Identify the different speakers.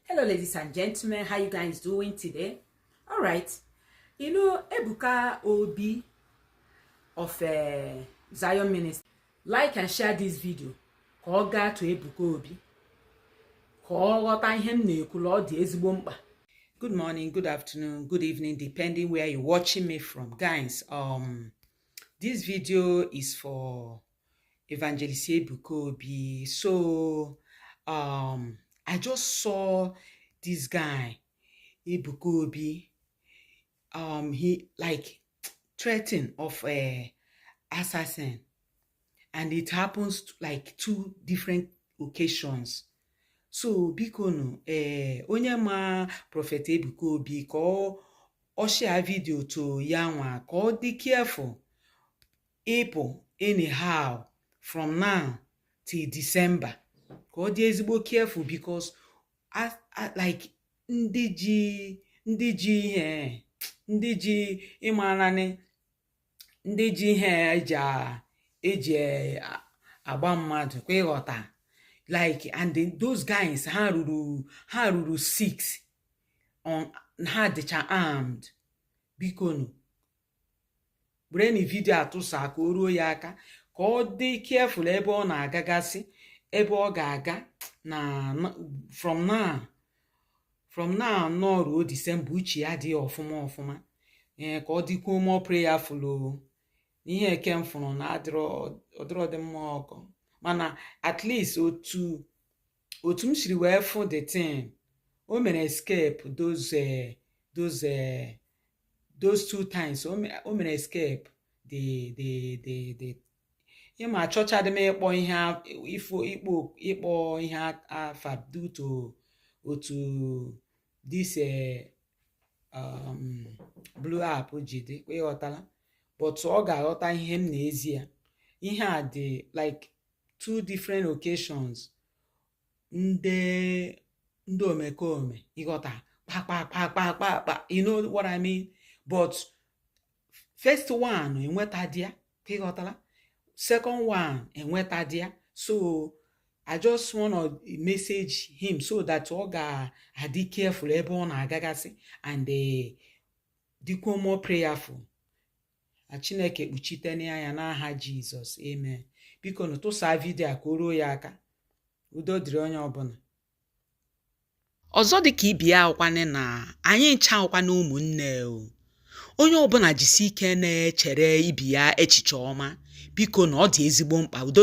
Speaker 1: hello ladies and gentlemen how you guys doing today all right you know ebuka obi of uh, zion ministry like and share this video ka ọ gaa to ebuka obi ka ọ ghọta ihe m na-ekwu na ọ dị ezigbo mkpa good morning good afternoon good evening depending where you're watching me from guys um this video is for Evangelist Ebuka Obi. So um, I just saw this guy, Ebuka Obi. Um, he like threatened of a eh, assassin, and it happens to, like two different occasions. So bikonu, eh, onye ma Prophet Ebuka Obi ka ọ share video to ya nwa ka ọ dị careful ịpụ anyhow from now till December ka ọ dị ezigbo careful because like ndị ji ndị ji ihe ndị ji ịmaana nị ndị ji ihe eji eji agba mmadụ kwa ịghọta like and those guys ha ruru ha ruru six and ha dịcha armed bikonu wereni video a tụsa ka o ruo ya aka ka ọ dị careful ebe ọ na-agagasị ebe ọ ga-aga na from now from now now ruo December uche ya dị ọfụma ọfụma ee eh, ka ọ dịkwuo more prayerful ihe eke m fụrụ na ọ dịrọdị mma ọkụ mana at least otu otu m siri wee fụ the thing o mere escape those eh, those eh, those two times o mere escape the the the the ịma achọchadị m ịkpọ ihe ịkpọ ihe afa due to otu this eh, um, blue app ji dị kwa ịghọtala but ọ ga-aghọta ihe m na-ezi ya ihe a dị like two different occasions ndị ndị omekome ịghọta kpakpakpakpakpakpa you know what I mean but first one enwetadị ya kwa ịghọtala second one enwetadị ya so I just wanna message him so that ọ ga-adị careful ebe ọ na-agagasị and eh, dịkwuo more prayerful na chineke kpuchitene ya n'aha jizọs amen bikonu tụsaa video a ka o ruo ya aka udo dịrị onye ọbụla ọzọ dịka ibe ya ọ wụkwanị na anyị ncha wụkwanị ụmụnne o onye ọbụla jisi ike na-echere ibe ya echiche ọma biko na ọ dị ezigbo mkpa udo